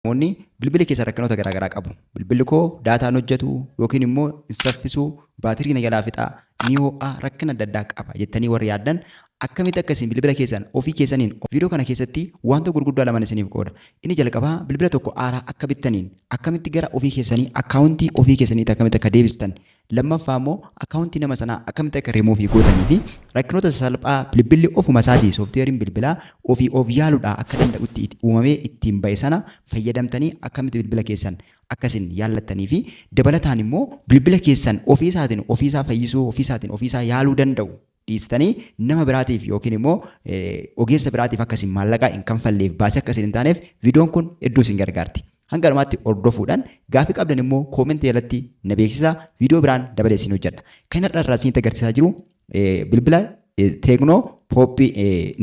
Namoonni bilbila keessa rakkinoota garaagaraa qabu. Bilbilli koo daataan hojjetu yookiin immoo hin saffisu, baatirii na jalaa fixa, ni ho'a, rakkina adda addaa qaba jettanii warri yaaddan akkamitti akka isin bilbila keessan ofii keessaniin viidiyoo kana keessatti wanta gurguddaa laman isiniif qooda. Inni jalqabaa bilbila tokko haaraa akka bittaniin akkamitti gara ofii keessanii akkaawuntii ofii keessaniitti akkamitti akka deebistan Lammaffaa immoo akkaawuntii nama sanaa akkamitti akka remove gootanii fi rakkinoota sasalphaa bilbilli ofuma isaatii sooftiweeriin bilbilaa ofii of yaaluudhaa akka danda'utti itti uumamee ittiin ba'e sana fayyadamtanii akkamitti bilbila keessan akka isin yaallattanii fi dabalataan immoo bilbila keessan ofii isaatiin ofii isaa fayyisuu ofii isaatiin ofii isaa yaaluu danda'u dhiistanii nama biraatiif yookiin immoo ogeessa biraatiif akka isin maallaqaa hin kanfalleef baasii akka isin hin taaneef viidiyoon kun hedduu isin gargaarti. Hanga dhumaatti hordofuudhaan gaaffii qabdan immoo koomentii jalatti na beeksisaa viidiyoo biraan dabalee isin hojjedha. Kan har'a irraa isinitti agarsiisaa jiru bilbila teeknoo pooppii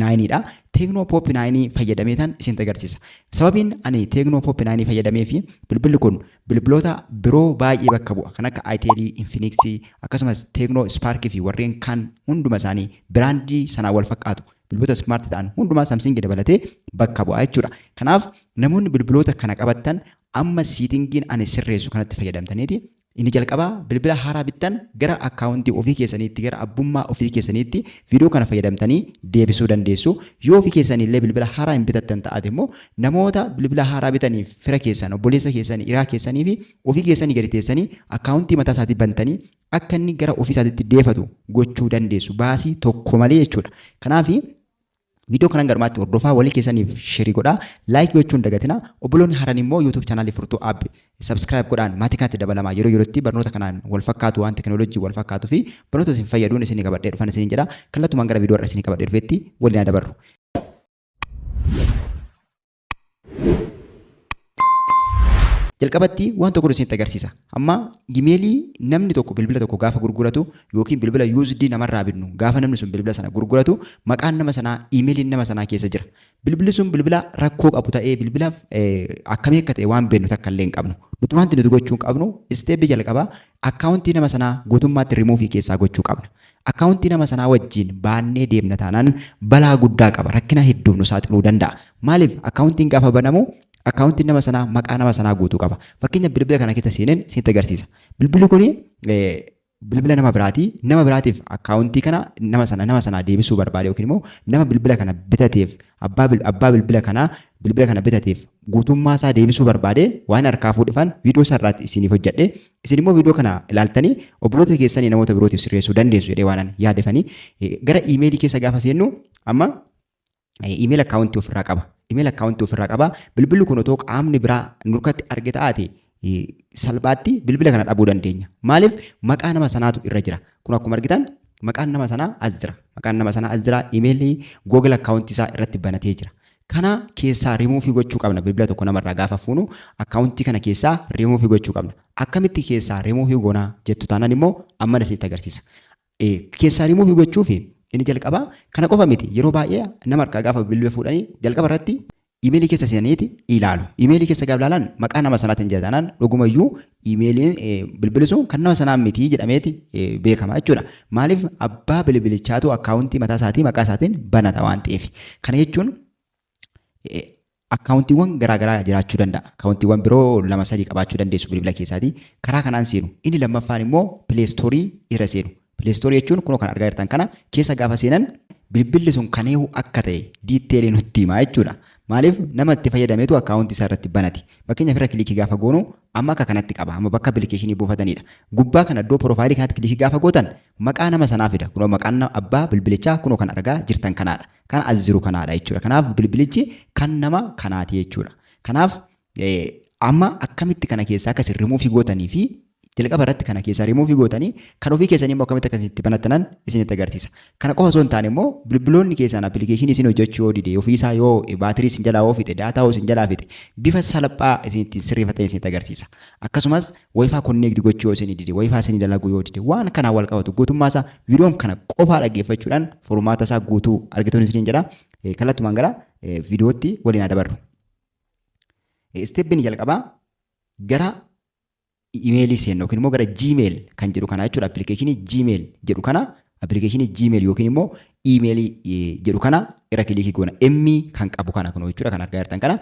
naayiniidha. Teeknoo pooppii naayinii fayyadamee tan isinitti agarsiisa. Sababiin ani teeknoo pooppii naayinii fayyadamee fi bilbilli kun Bilbiloota biroo baay'ee bakka bu'a. Kan akka Itel, Infinix, akkasumas Tecno, Spark fi warreen kaan hunduma isaanii biraandii sanaan wal fakkaatu. Bilbiloota smart ta'an hundumaa Samsung dabalatee bakka bu'a jechuudha. Kanaaf namoonni bilbiloota kana qabattan amma siitingiin ani sirreessu kanatti fayyadamtaniiti. Inni jalqabaa bilbila haaraa bittan gara akkaawuntii ofii keessaniitti gara abbummaa ofii keessaniitti viidiyoo kana fayyadamtanii deebisuu dandeessu. Yoo ofii keessanii illee bilbila haaraa hin bitattan ta'ate immoo Namoota bilbila haaraa bitaniif fira keessan, obboleessa keessan, hiraa keessanii fi ofii keessanii gadi teessanii akkaawuntii mataa isaatii bantanii akka inni gara ofii isaatiitti deefatu gochuu dandeessu baasii tokko malee jechuudha. Kanaaf viidiyoo kanan garmaatti hordofaa walii keessaniif sheerii godhaa laayik gochuun dagatina obboloonni haran immoo yuutuub chaanaalii furtuu app sabskiraayib godhaan maatii kanatti dabalamaa yeroo yerootti barnoota kanaan wal fakkaatu waan teknoolojii wal fakkaatu fi barnoota isin fayyaduun isin qabadhee dhufan isin jedha kallattumaan gara viidiyoo irra isin qabadhee dhufetti waliin dabarru. Jalqabatti waan tokko isinitti agarsiisa. Amma imeelii namni tokko bilbila tokko gaafa gurguratu yookiin bilbila USD namarraa bitnu gaafa namni sun bilbila sana gurguratu maqaan nama sanaa imeeliin nama sanaa keessa jira. Bilbilli sun bilbila rakkoo qabu ta'ee bilbila akkamii akka ta'e waan beeknu takka illee hin qabnu. Nuti wanti nuti gochuu qabnu isteeppi jalqabaa akkaawuntii nama sanaa guutummaatti rimuufii keessaa gochuu qabna. Akkaawuntii nama sanaa wajjiin baannee deemna taanaan balaa guddaa qaba. Rakkina hedduuf nu saaxiluu danda'a. Maaliif? Akkaawuntiin gaafa banamu akkaawuntiin nama sanaa maqaa nama sanaa guutuu qaba. Fakkeenya bilbila kana keessa seeneen isinitti agarsiisa. Bilbilli kun bilbila nama biraati. Nama biraatiif akkaawuntii kana nama sana nama sanaa deebisuu barbaade yookiin immoo nama bilbila kana bitateef abbaa bil- abbaa bilbila kanaa bilbila kana bitateef guutummaa isaa deebisuu barbaade waan harkaa fuudhifan viidiyoo isaa irraatti isiniif hojjedhe Isin immoo viidiyoo kana ilaaltanii obboloota keessanii namoota birootiif sirreessuu dandeessu jedhee waanan yaadefanii gara iimeelii keessa gaafa seennu amma iimeel akkaawuntii ofirraa qaba. Iimeel akkaawuntii ofirraa qaba. Bilbilli kun otoo qaamni biraa nurkatti arge ta'aate salphaatti bilbila kana dhabuu dandeenya. Maaliif maqaa nama sanaatu irra jira. Kun akkuma argitan maqaan nama sanaa as jira. Maqaan nama sanaa as jira. Iimeelii Google akkaawuntii isaa irratti banatee jira. kana keessaa rimuufii gochuu qabna bilbila tokko namarraa gaafa fuunu akkaawuntii kana keessaa rimuufii gochuu qabna akkamitti keessaa rimuufii goonaa jettu taanaan immoo amman isinitti agarsiisa keessaa rimuufii gochuuf inni jalqabaa kana qofa miti yeroo baay'ee nama harkaa gaafa bilbila fuudhanii jalqaba irratti imeelii keessa seenaniiti ilaalu imeelii keessa gaafa ilaalan maqaa nama sanaatiin jira taanaan dhugumayyuu iimeeliin bilbili sun kan nama sanaa miti jedhameeti beekama jechuudha. Maaliif abbaa bilbilichaatu akkaawuntii mataa isaatii maqaa isaatiin banata waan ta'eef. Kana jechuun akkaawuntiiwwan garaagaraa jiraachuu danda'a. Akkaawuntiiwwan biroo lama sadii qabaachuu dandeessu bilbila keessaatii. Karaa kanaan seenu. Inni lammaffaan immoo pileestoorii irra seenu. Pileestoorii jechuun kunoo kan argaa jirtan kana keessa gaafa seenan bilbilli sun kan eewu akka ta'e diitteelii nutti himaa jechuudha. Maaliif nama itti fayyadametu akkaawuntii isaa irratti banati. Fakkeenyaaf irra kilikii gaafa goonu amma akka kanatti qaba. Amma bakka appilikeeshinii buufatanidha. Gubbaa kana iddoo piroofaayilii kanatti kilikii gaafa gootan maqaa nama sanaa fida. Kunoo maqaan abbaa bilbilichaa kunoo kan argaa jirtan kanaadha. Kan as jiru kanaadha jechuudha. Kanaaf bilbilichi kan nama kanaati jechuudha. Kanaaf Amma akkamitti kana keessaa akka isin rimuufii gootanii fi jalqaba irratti kana keessaa rimuufii gootanii kan ofii keessanii immoo akkamitti akka itti banattanan isinitti agarsiisa. Kana qofa osoo hin taane immoo bilbiloonni keessaan appilikeeshinii isin hojjechuu yoo dide ofiisaa yoo baatirii isin jalaa yoo fixe daataa yoo isin jalaa fixe bifa salphaa isin ittiin sirreeffatan isinitti agarsiisa. Akkasumas wayifaa konneekti gochuu yoo isin dide wayifaa isin dalaguu yoo dide waan kanaa wal qabatu guutummaa isaa viidiyoon kana qofaa dhaggeeffachuudhaan furmaata isaa guutuu argituun isiniin jedha. Kallattumaan gara viidiyootti waliin haa dabarru. Isteeppiin jalqabaa gara imeelii seenna yookiin immoo gara Gmail kan jedhu kana jechuudha. Appilikeeshinii Gmail jedhu kana appilikeeshinii Gmail yookiin immoo imeelii jedhu kana irra kiliikii goona. Emmi kan qabu kana kunoo jechuudha kan argaa jirtan kana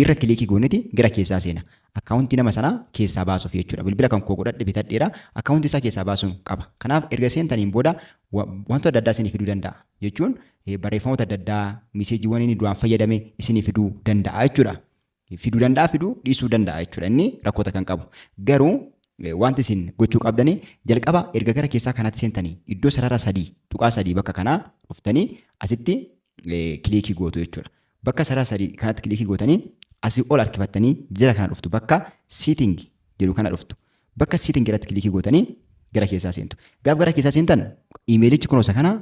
irra kiliikii gooniti gara keessaa seena. Akkaawuntii nama sanaa keessaa baasuuf jechuudha. Bilbila kan koo godhadhe bitadheera. Akkaawuntii isaa keessaa baasuun qaba. Kanaaf erga seentaniin booda wantoota adda addaa isinii fiduu danda'a. Jechuun barreeffamoota adda addaa miseejiiwwan inni duraan fayyadame isinii fiduu danda'a jechuudha. Fiduu danda'a fiduu dhiisuu danda'a jechuudha inni rakkoota kan qabu. Garuu wanti isin gochuu qabdani jalqaba erga gara keessaa kanatti seentanii iddoo sarara sadii tuqaa sadii bakka kanaa dhuftanii asitti kiliikii gootu jechuudha. Bakka sarara sadii kanatti kiliikii gootanii asii ol harkifattanii jala kana dhuftu bakka sitting jedhu kana dhuftu. Bakka sitting irratti kiliikii gootanii gara keessaa seentu. Gaaf gara keessaa seentan imeelichi kunuunsa kana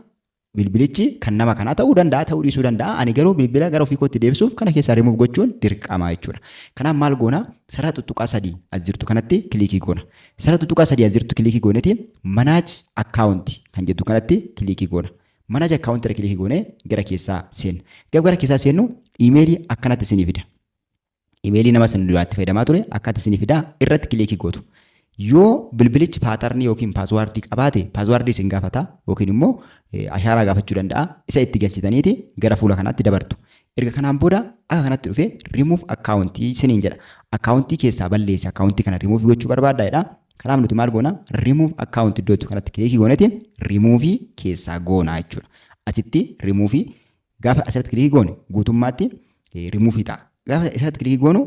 Bilbilichi kan nama kanaa ta'uu danda'a, ta'uu dhiisuu danda'a. Ani garuu bilbila gara ofii kootti deebisuuf kana keessaa remove gochuun dirqama jechuudha. Kanaaf maal goona? Sarara tuttuqaa sadii as jirtu kanatti kiliikii goona. Sarara tuttuqaa sadii as jirtu kiliikii gooneeti manage account kan jettu kanatti kiliikii goona. Manage account irra kiliikii goonee gara keessaa seenna. Gab gara keessaa seennu imeelii akkanatti isinii fida. imeelii nama isin duraatti fayyadamaa ture akkaataa isinii fidaa irratti kiliikii gootu. Yoo bilbilichi paatarnii yookiin paaswaardii qabaate paaswaardii isin gaafata yookiin immoo ashaaraa gaafachuu danda'a isa itti galchitaniiti gara fuula kanaatti dabartu. Erga kanaan booda akka kanatti dhufee rimuuf akkaawuntii isiniin jedha. Akkaawuntii keessaa balleessa akkaawuntii kana rimuuf gochuu barbaadda jedha. Kanaaf nuti maal goona rimuuf akkaawuntii iddoo kanatti kiliikii gooneeti rimuufii keessaa goona jechuudha. Asitti rimuufii Gaafa asirratti kilikii goone guutummaatti rimuufii ta'a. Gaafa asirratti kilikii goonu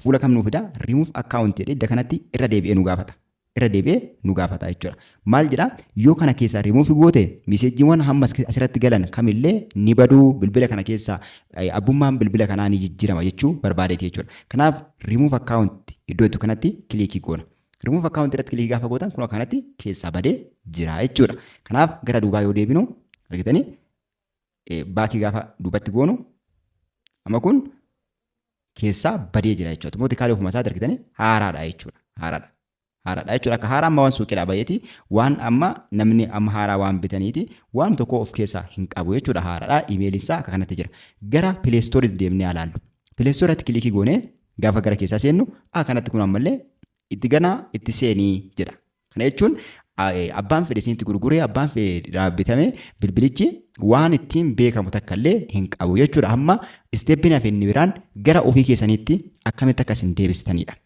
fuula kam nuu fida rimuuf akkaawunti jedhee idda kanatti irra deebi'ee nu gaafata. Irra deebi'ee nu gaafata jechuudha. Maal jedhaa yoo kana keessaa rimuufi goote miseejiiwwan hammas asirratti galan kamillee ni baduu bilbila kana keessaa abbummaan bilbila kanaa ni jijjiirama jechuu barbaadeeti jechuudha. Kanaaf rimuuf akkaawunti iddoo itti kanatti kilikii goona. Rimuuf akkaawunti irratti kilikii gaafa gootan kun kanatti keessaa badee jira jechuudha. Kanaaf gara duubaa yoo deebinu argitanii baakii gaafa duubatti goonu amma kun keessaa badee jira jechuudha. Mootikaalee ofuma isaati argitanii haaraadha jechuudha. Haaraadha. Haaraadha jechuudha. Akka haaraa amma waan suuqiidhaa baheeti waan amma namni amma haaraa waan bitaniiti waan tokko of keessaa hin qabu jechuudha. Haaraadha. Imeeliin isaa akka kanatti jira. Gara pileestooris deemnee alaallu. Pileestooratti kilikii goonee gaafa gara keessaa seennu akka kanatti kun ammallee itti ganaa itti seenii jedha. Kana jechuun abbaan fedhe isinitti gurguree abbaan fedhe bitame bilbilichi waan ittiin beekamu takka illee hin qabu jechuudha. Amma isteeppiin hafe inni biraan gara ofii keessaniitti akkamitti akka isin deebisitanidha.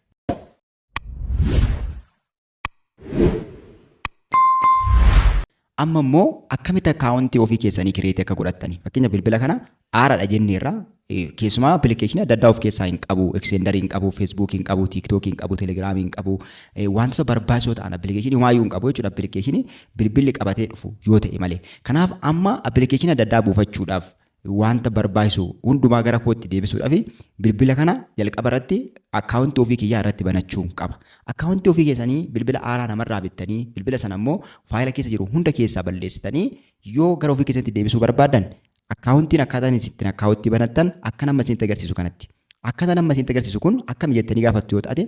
Amma immoo akkamitti akkaawuntii ofii keessanii kireetii akka godhattani. Fakkeenya bilbila kana aaraadha jenneerra. Keessumaa appilikeeshinii adda addaa of keessaa hin qabu. Ekseendarii hin qabu, feesbuukii hin qabu, tiiktookii hin qabu, telegiraamii hin qabu. Wantoota barbaachisoo ta'an appilikeeshinii waayyuu hin qabu jechuudha. Appilikeeshinii bilbilli qabatee dhufu yoo ta'e malee. Kanaaf amma appilikeeshinii adda addaa buufachuudhaaf wanta barbaachisu hundumaa gara kootti deebisuudhaaf bilbila kana jalqaba irratti akkaawuntii ofii kiyyaa irratti banachuu qaba. Akkaawuntii ofii keessanii bilbila haaraa namarraa bittanii bilbila sana immoo faayila keessa jiru hunda keessaa balleessitanii yoo gara ofii keessatti deebisuu barbaadan akkaawuntiin akkaataa inni ittiin akkaawuntii banattan akka nama isinitti agarsiisu kanatti. Akkaataan amma isinitti agarsiisu kun akkam jettanii gaafattu yoo taate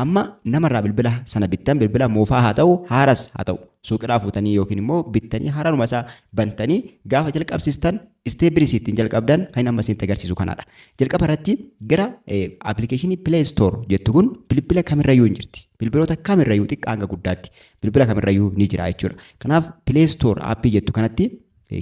Amma namarraa bilbila sana bittan bilbila moofaa haa ta'u haaras haa ta'u suuqidhaa fuutanii yookiin immoo bittanii haararuma isaa bantanii gaafa jalqabsistan isteeppii ittiin jalqabdan kan amma isinitti agarsiisu kanaadha. Jalqaba irratti gara appilikeeshinii Play Store jettu kun bilbila kamirrayyuu hin jirti. Bilbiloota kamirrayyuu xiqqaa hanga guddaatti bilbila kamirrayyuu ni jira jechuudha. Kanaaf Play Store appii jettu kanatti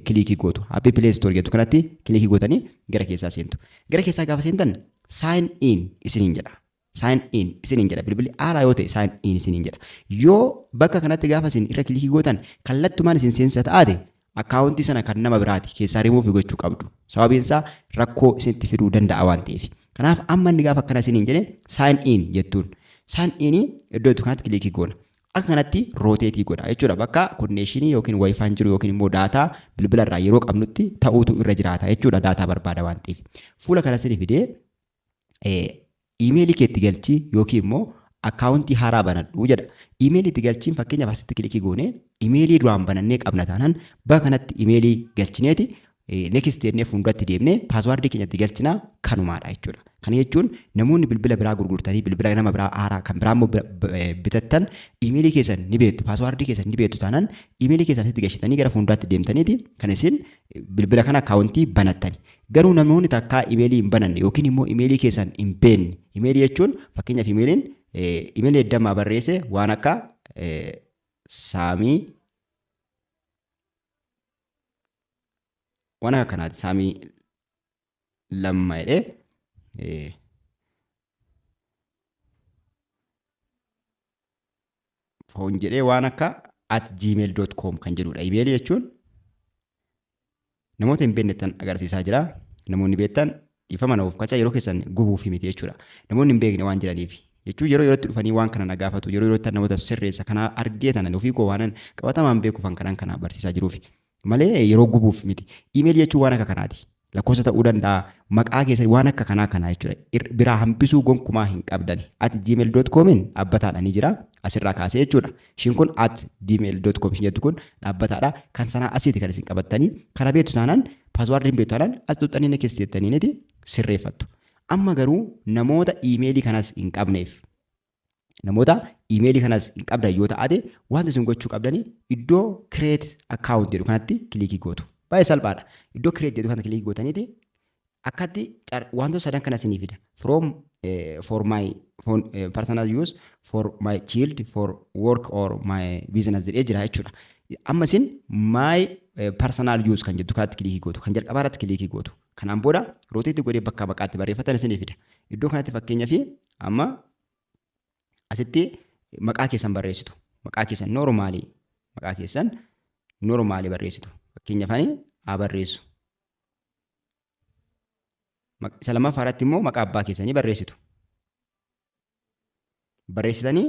kilikii gootu. Appii Play Store jettu kanatti kilikii gootanii gara keessaa seentu. Gara keessaa gaafa seentan sign in isiniin jedha. sign in isiniin jedha bilbilli haaraa yoo ta'e sign in isiniin jedha yoo bakka kanatti gaafa isin irra kilikii gootan kallattumaan isin seensa ta'aate akkaawuntii sana kan nama biraati keessaa rimuufi gochuu qabdu sababiin isaa rakkoo isinitti fiduu danda'a waan ta'eef kanaaf amma inni gaafa akkana isiniin jedhe sign in jettuun sign in iddoo itti kanatti kilikii goona akka kanatti rooteetii godha jechuudha bakka konneeshinii yookiin waayifaan jiru yookiin immoo daataa bilbila irraa yeroo qabnutti ta'uutu irra jiraata jechuudha daataa barbaada waan ta'eef fuula kana isin fidee iimeelii kee itti galchii yookiin immoo akkaawuntii haaraa banadhu jedha. Iimeelii itti galchiin fakkeenyaaf asitti kilikii goonee iimeelii duraan banannee qabna taanaan bakka kanatti iimeelii galchineeti next jennee fuulduratti deemnee paaswaardii keenya itti galchina kanumaadha jechuudha. Kana jechuun namoonni bilbila biraa gurgurtanii bilbila nama biraa haaraa kan biraa immoo bitattan iimeelii keessan ni beektu paaswaardii keessan ni beektu taanaan iimeelii keessan asitti galchitanii gara fuulduratti deemtaniiti kan isin bilbila kana akkaawuntii banattani. Garuu namoonni takkaa imeelii hin bananne yookiin immoo imeelii keessan hin beekne. Imeelii jechuun fakkeenyaaf imeeliin imeelii eddammaa barreesse waan akka saamii waan akka kanaati saamii lamma jedhee foon jedhee waan akka at gmail.com kan jedhudha. Imeelii jechuun namoota hin beeknettan agarsiisaa jira. Namoonni beektan dhiifama naaf kacha yeroo keessan gubuuf miti jechuudha. Namoonni hin beekne waan jiraniif jechuun yeroo yerootti dhufanii waan kana na gaafatu yeroo yerootti namoota sirreessa kana argee tanan ofii koo waanan qabatamaan beekuufan kanan kana barsiisaa jiruufi. malee yeroo gubuuf miti. Email jechuun waan akka kanaati. Lakkoofsa ta'uu danda'a, maqaa keessan waan akka kanaa kanaa jechuudha. Ir- Biraa hambisuu gonkumaa hin qabdani. At gmail.comin dhaabbataadha ni jira. Asirraa kaasee jechuudha. Ishiin kun at gmail.com ishiin jettu kun dhaabbataadha. Kan sanaa asiiti kan isin qabattanii. Kana beektu taanaan paaswaardii hin beektu taanaan as xuxxanii na keessa jettaniiniti sirreeffattu. Amma garuu namoota iimeelii kanas hin qabneef namoota iimeelii kanas hin qabdan yoo ta'ate wanta isin gochuu qabdanii iddoo create account jedhu kanatti kilikii gootu. Baay'ee salphaadha. Iddoo create jedhu kanatti kilikii gootaniiti akkatti car- wantoota sadan kana isinii fida. From eh, for my for, eh, personal use for my child for work or my business jedhee jira jechuudha. Amma isin my eh, personal use kan jettu kanatti kilikii gootu kan jalqabaa irratti kilikii gootu. Kanaan booda roteetti godhee bakka maqaatti barreeffatan isinii fida. Iddoo kanatti fakkeenyaaf Amma asitti maqaa keessan barreessitu. Maqaa keessan noormaalii maqaa keessan noormaalii barreessitu. Fakkeenyaaf ani haa barreessu. Isa lammaffaa irratti immoo maqaa abbaa keessanii barreessitu. Barreessitanii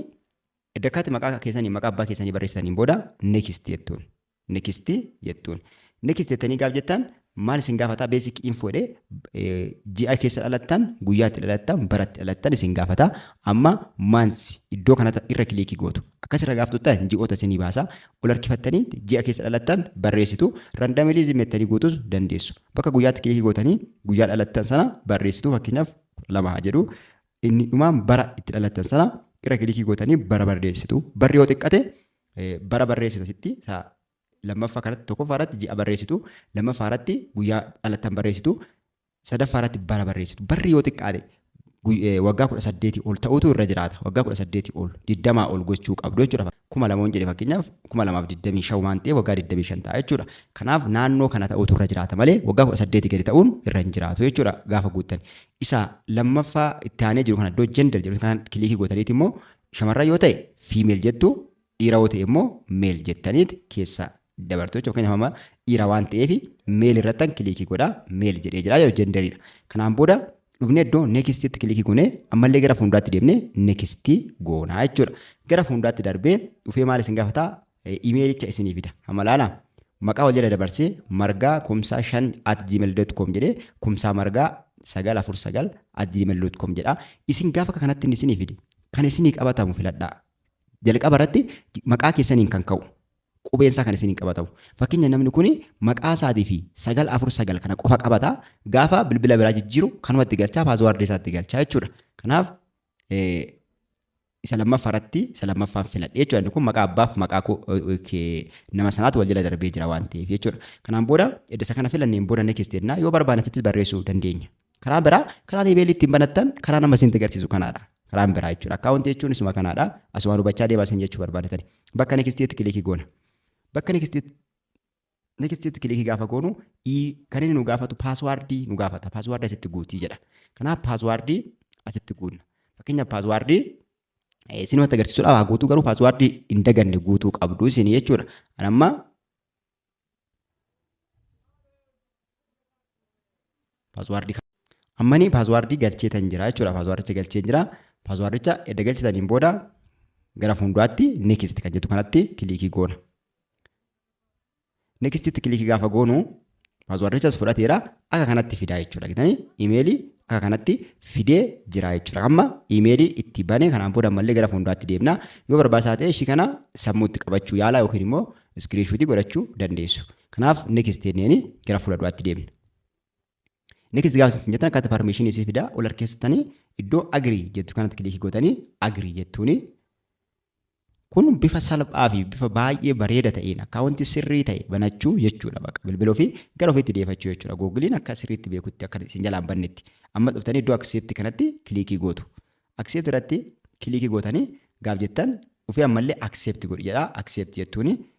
iddakkaatti maqaa keessanii maqaa abbaa keessanii barreessitaniin booda next jettuun. Next jettuun. Next jettanii gaaf jettan maal isin gaafata basic info jedhee eh, ji'a keessa dhalattan, guyyaatti dhalattan, baratti dhalattan isin gaafata. Amma months iddoo kanatti irra kiliikii gootu. Akkas irra gaaf tuttan ji'oota isinii baasa. Ol harkifattanii ji'a keessa dhalattan barreessitu. Randomly mettanii guutus dandeessu. Bakka guyyaatti kiliikii gootanii guyyaa dhalattan sana barreessitu fakkeenyaaf kudha lama haa jedhu. Inni dhumaan bara itti dhalattan sana irra kiliikii gootanii bara barreessitu. Barri yoo xiqqate bara barreessitu asitti isaa lammaffaa kanatti tokkoffaa irratti ji'a barreessitu lammaffaa irratti guyyaa dhalattan barreessitu sadaffaa irratti bara barreessitu barri yoo xiqqaate waggaa kudha saddeetii ol ta'utu irra jiraata waggaa kudha saddeetii ol digdamaa ol gochuu qabdu jechuudha kuma lama hin jedhe fakkeenyaaf kuma lamaaf digdamii shan waan ta'eef waggaa digdamii shan ta'a jechuudha kanaaf naannoo kana ta'utu irra jiraata malee waggaa kudha saddeetii gadi ta'uun irra hin jiraatu jechuudha gaafa guuttan isa lammaffaa itti aanee jiru kana iddoo jender jedhu kana kilikii gootaniiti immoo Shamarran yoo ta'e female jettu, dhiira yoo ta'e immoo male jettaniit keessa dabartu jechuudha. Fakkeenyaaf amma dhiira waan ta'eef male irrattan kiliikii godha, male jedhee jira jechuudha jenderiidha. Kanaan booda dhufnee iddoo nextitti kiliikii goonee ammallee gara fuulduraatti deemnee nextii goonaa jechuudha. Gara fuulduraatti darbee dhufee maal isin gaafata? imeelicha isinii fida. Amma laala maqaa wal jala dabarsee margaa kumsaa 5 at gmail.com jedhee kumsaa margaa 949 at gmail.com jedha. Isin gaafa akka kanatti inni isinii fide kan isinii qabatamu filadhaa. Jalqaba irratti maqaa keessaniin kan ka'u qubeen isaa kan isiniin qabatamu. Fakkeenya namni kun maqaa isaatii fi 949 kana qofa qabata gaafa bilbila biraa jijjiiru kanumatti galchaa paaswaardii isaatti galchaa jechuudha. Kanaaf isa lammaffaa irratti isa lammaffaan filadhe jechuudha. Inni kun maqaa abbaaf maqaa koo nama sanaatu wal jala darbee jira waan ta'eef jechuudha. Kanaan booda edda isa kana filanneen booda next jennaa yoo barbaanne asittis barreessuu dandeenya. Karaa biraa karaan imeelii ittiin banattan karaa nama isin agarsiisu kanaadha. Karaan biraa jechuudha. Akkaawuntii jechuun isuma kanaadha. Asumaan hubachaa deemaa isin jechuu barbaadatani. Bakka next jetti kilikii goona. Bakka next Next itti kilikii gaafa goonu kan inni nu gaafatu paaswaardii nu gaafata. Paaswaardii asitti guutii jedha. Kanaaf paaswaardii asitti guunna. Fakkeenyaaf paaswaardii isin wanta agarsiisudha waa guutuu garuu paaswaardii hin daganne guutuu qabdu isin jechuudha. Anamma Paaswaardii ammanii paaswaardii galcheetan jira jechuudha. Paaswaardicha galchee jira. Paaswaardicha edda galchitaniin booda gara fuulduraatti next kan jettu kanatti kiliikii goona. Nextitti kiliikii gaafa goonu paaswaardichas fudhateera akka kanatti fidaa jechuudha. Gitanii imeelii akka kanatti fidee jira jechuudha. Amma imeelii itti bane kanaan booda ammallee gara fuulduraatti deemna. Yoo barbaachisaa ta'e ishii kana sammuutti qabachuu yaala yookiin immoo iskiriinshuutii godhachuu dandeessu. Kanaaf next jenneen gara fuula duraatti deemna. Next gaafa isin jettan akkaataa permission isii fidaa ol harkeessitanii iddoo agree jettu kanatti kilikii gootanii agree jettuuni. Kun bifa salphaa fi bifa baay'ee bareeda ta'een akkaawuntii sirrii ta'e banachuu jechuudha baqa bilbila ofii gara ofiitti deefachuu jechuudha. Googiliin akka sirriitti beekutti akka isin jalaan bannetti. Amma dhuftanii iddoo accept kanatti kilikii gootu. Accept irratti kilikii gootanii gaaf jettan ofii ammallee accept godhi jedhaa accept jettuuni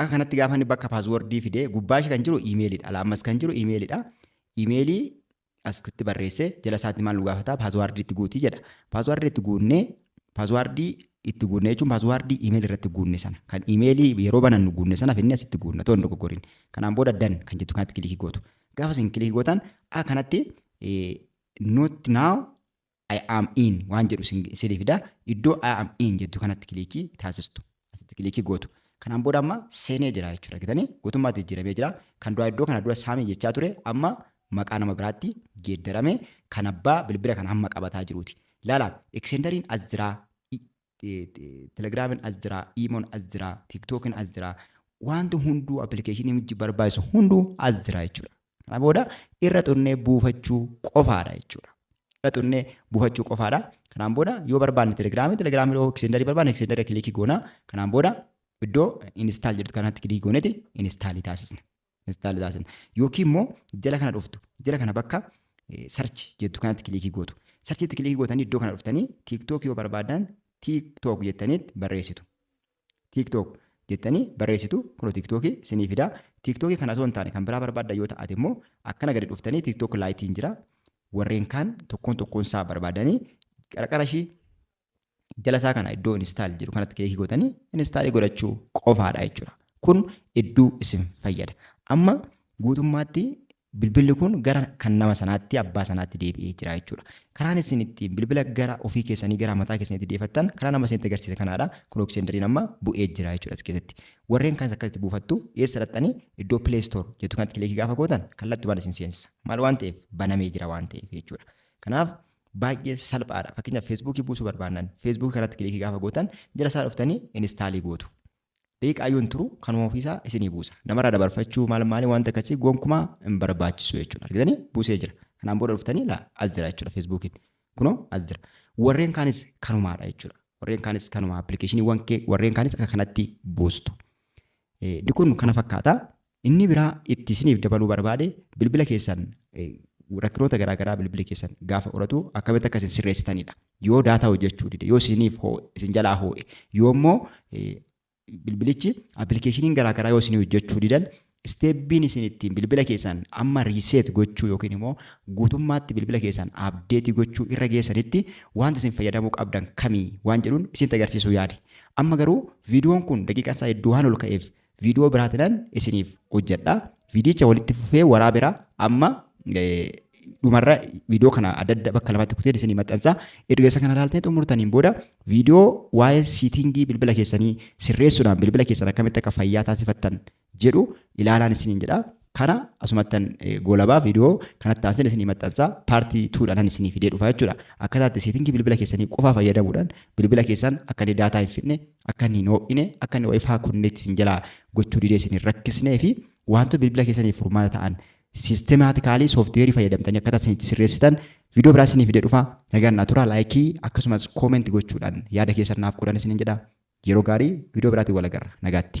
akka kanatti gaafa inni bakka paaswordii fidee gubbaa ishee kan jiru imeeliidha. Alaa ammas kan jiru imeeliidha. Imeelii asitti barreessee jala isaatti maal nu gaafata paaswardii itti guutii jedha. Paaswardii itti guunnee paaswardii itti guunnee jechuun paaswardii imeelii irratti guunne sana kan imeelii yeroo banannu guunne sana finni asitti guunna toon dogoggoriin. Kanaan booda dan kan jettu kanatti kilikii gootu. Gaafa isin kilikii gootan akka kanatti not now I am in waan jedhu isin- isinii fida. Iddoo I am in jettu kanatti kiliikii taasistu. Asitti kiliikii gootu. Kanaan booda amma seenee jira jechuudha. Argitanii? Guutummaatti jijjiiramee jira. Kan duraa iddoo kana dura saamii jechaa ture amma maqaa nama biraatti geeddarame kan abbaa bilbila kana amma qabataa jiruuti. Laala, ekseendariin as jira. I- Telegraamin as jira, Iimon as jira, TikTokin as jira. Wanti hunduu appilikeeshinii mijji barbaachisu hunduu as jira jechuudha. Kana booda irra tunnee buufachuu qofaadha jechuudha. Irra tunnee buufachuu qofaadha. Kanaan booda yoo barbaanne telegiraamii telegiraamii yoo eksendarii barbaanne eksendarii kilikii goona. Kanaan booda iddoo instaal jedhu kanatti kilikii gooneti instaalii taasisna. install taasisan yookiin immoo jala kana dhuftu jala kana bakka search jettu kanatti kilikii gootu search itti kilikii gootanii iddoo kana dhuftanii tiktok yoo barbaadan tiktok jettanii barreessitu tiktok jettanii barreessitu kun tiktok sinii fida tiktok kana osoo hin taane kan biraa barbaadda yoo ta'ate immoo akkana gadi dhuftanii tiktok laayitiin jira warreen kaan tokkoon tokkoon isaa barbaadanii qarqara ishii jala isaa kana iddoo install jiru kanatti kilikii gootanii install godhachuu qofaadha jechuudha. Kun hedduu isin fayyada. Amma guutummaatti bilbilli kun gara kan nama sanaatti abbaa sanaatti deebi'ee jira jechuudha. Karaan isin ittiin bilbila gara ofii keessanii gara mataa keessanitti deefattan karaa nama isinitti agarsiise kanaadha. Kun oksendariin amma bu'ee jira jechuudha as keessatti. Warreen kanas akkasitti buufattu eessa dhaqxanii iddoo play store jettu kanatti kilikii gaafa gootan kallattumaan isin seensa. Maal waan ta'eef banamee jira waan ta'eef jechuudha. Kanaaf Baay'ee salphaadha. Fakkeenyaaf Feesbuukii buusuu barbaannan Feesbuukii kanatti kiliikii gaafa gootan jala isaa dhuftanii inistaalii gootu. Daqiiqaa yoo hin turu kanuma ofiisaa isinii buusa. Namarraa dabarfachuu maal maalii wanta akkasii gonkumaa hin barbaachisu jechuudha. Argitanii buusee jira. Kanaan booda dhuftanii laa as jira jechuudha Feesbuukiin. Kunoo as jira. Warreen kaanis kanumaadha jechuudha. Warreen kaanis kanuma appilikeeshiniiwwan kee warreen kaanis akka kanatti buustu. Inni kun kana fakkaata. Inni biraa itti isiniif dabaluu barbaade bilbila keessan rakkinoota garaa garaa bilbili keessan gaafa horatu akkamitti akka isin sirreessitanidha. Yoo daataa hojjechuu dide, yoo isiniif isin jalaa hoo'e, yoo immoo bilbilichi appilikeeshiniin garaa garaa yoo isin hojjechuu didan isteeppiin isin ittiin bilbila keessan amma riiseet gochuu yookiin immoo guutummaatti bilbila keessan abdeetii gochuu irra geessanitti wanti isin fayyadamuu qabdan kamii waan jedhuun isinitti agarsiisuu yaade. Amma garuu viidiyoon kun daqiiqaan isaa hedduu waan ol ka'eef Viidiyoo biraatinan isiniif hojjedha. Viidiyicha walitti fufee waraabera amma dhumarra viidiyoo kana adda adda bakka lamatti kuteen isinii maxxansa. Erga isa kana ilaaltanii xumurtaniin booda viidiyoo waa'ee siitingii bilbila keessanii sirreessuudhaan bilbila keessan akkamitti akka fayyaa taasifattan jedhu ilaalaan isiniin jedha. kana asumattan goolabaa viidiyoo kanatti aanseen isinii maxxansaa paartii tuudhaan isinii fidee dhufaa jechuudha. Akkataatti seetingii bilbila keessanii qofaa fayyadamuudhaan bilbila keessan akka inni daataa hin fidne akka inni hin ho'ine akka inni wifi connect isin jalaa gochuu didee isin hin rakkisnee fi wantoota bilbila keessaniif furmaata ta'an siistemaatikaalii sooftiweerii fayyadamtanii akkaataa isin itti sirreessitan viidiyoo biraa isinii fidee dhufaa nagaan naa turaa laayikii akkasumas koomenti gochuudhaan yaada keessan naaf godhan isinin jedha yeroo gaarii viidiyoo biraatiin wal agarra nagaatti.